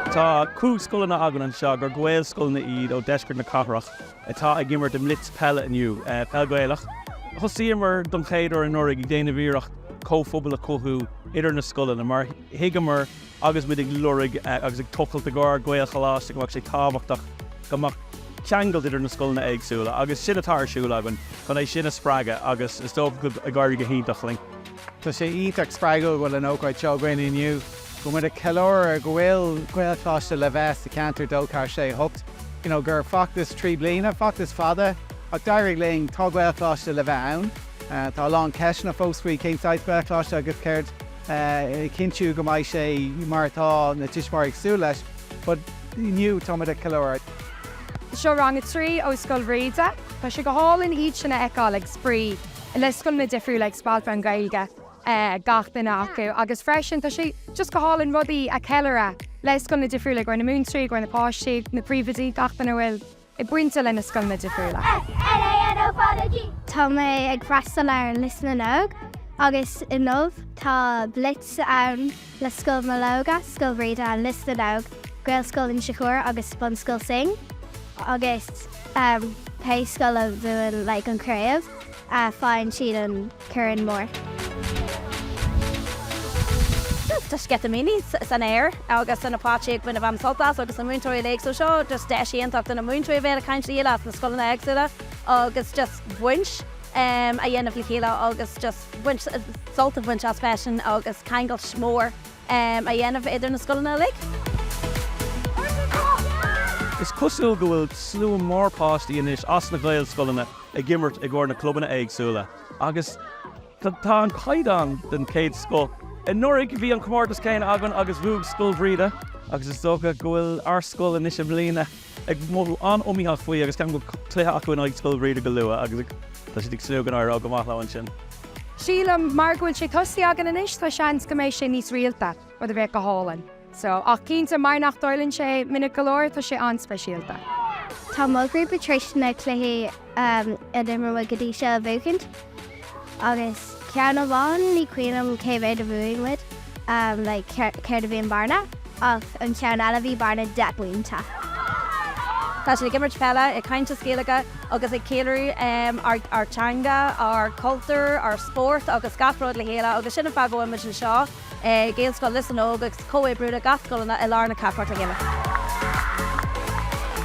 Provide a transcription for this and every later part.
Tá cúig scoileanna againn anseo gur Gaelscoileanna iad ó deisceart na cathrach atá ag imirt i mblitz peile inniu, peil Ghaelach. Thosaíomar don chéad uair anuraigh ag déanamh iarracht comhphobal a chothú idir na scoileanna mar thuigeamar agus muid ag lorg agus ag tochailt i gcomhair Gaelcholáiste go mbeadh sé tábhachtach go mbeadh ceangailt idir na scoileanna éagsúla agus sin atá ar siúl againn chun é sin a spreagadh agus is dócha go n-éirí go hiontach linn. Tá sé iontach spreagúil go bhfuil an ócáid seo againn inniu, go bhfuil muid ag ceiliúradh go bhfuil Gaelcholáiste le bheith sa cheantar 2 4 6 8. You know gur feachtas trí bliana, feachtas fada ach d'éirigh linn, tá Gaelcholáiste le bheith ann. Tá a lán ceisteanna fós faoi cén saghas Gaelcholáiste agus conas a chinntiú go mbeidh sé mar atá na tuismitheoirí ag súil leis but inniu tá muid ag ceiliúradh. Seo rang a trí ó Scoil Bhríde. Tá sé go hálainn iad sin a fheiceáil ag spraoi. le scoileanna difriúla ag spalpadh an Ghaeilge gach duine acu agus freisin tá sé just go hálainn rudaí a ceiliúradh le scoileanna difriúla do na múinteoirí do na páistí na príomhoidí gach duine bhfuil bainte le na scoileanna difriúla. Tá mé ag freastal ar Lios na nÓg agus inniu tá blitz ann. le Scoil Mológa, Scoil Bhríde and Lios na nÓg, Gaelscoil Inse Chór agus Bunscoil Synge agus pé scoil a bhuann like an chraobh faigheann siad an corn mór. Tá sceitimíní san aer agus tá na páistí ag baint an-sult as agus na múinteoirí uilig so seo just deis iontach do na múinteoirí a bheith ag caint le chéile as na scoileanna éagsúla agus just baint a dhéanamh le chéile agus just sult a bhaint as freisin agus ceangailt mhór a dhéanamh idir na scoileanna uilig. Is cosúil go bhfuil slua mór páistí anois as na Gaelscoileanna ag imirt i gcomhair na clubanna éagsúla agus tá an caighdeán den chéad scoth. Anuraidh bhí an comórtas céanna againn agus bhuaigh Scoil Bhríde agus is dócha go bhfuil ár scoil anois i mbliana. ag mothú an-iomaíoch faoi agus ceann go bhfuil cluiche acu in aghaidh Scoil Bhríde go luath agus tá siad ag súil go n-éireoidh go maith leo ansin. Sílim mar go bhfuil sé tosaithe againn anois tá seans go mbeidh sé níos rialta, rud a bheadh go hálainn. So, ach cinnte mar nach dtarlaíonn sé minic go leor tá sé an-speisialta. Tá mo ghrúpa tar éis na cluichí. a d'imir muid go dtí seo a bhuachaint agus ceann amháin ní cuimhnim cé mhéad a bhuaigh muid like céard céard a bhí an bearna ach an ceann eile bhí bearna deich bpointe. Tá siad ag imirt peile, ag caint as Gaeilge agus ag ceiliúradh ár ár teanga, ár cultúr, ár spórt agus gach rud le chéile agus sin an fáth a bhfuil muid anseo. Gaelscoil Lios na nÓg agus comhoibriú leis na Gaelscoileanna i lár na cathrach le chéile.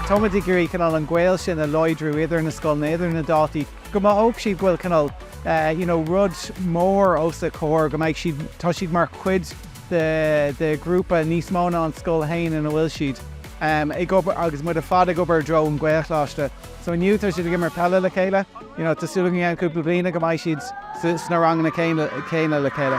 Táimid ag iarraidh cineál an gaol sin a láidriú idir na scoileanna, idir na daltaí, go mothódh siad go bhfuil cineál you know rud mór os a gcomhair, go mbeidh siad, tá siad mar chuid de ghrúpa níos mó ná an scoil féin ina bhfuil siad ag obair agus muid ar fad ag obair i dtreo an Ghaelcholáiste. So inniu tá siad ag imirt peile le chéile. You know tá súil againn i gceann cúpla bliana go mbeidh siad sna ranganna céanna le chéile.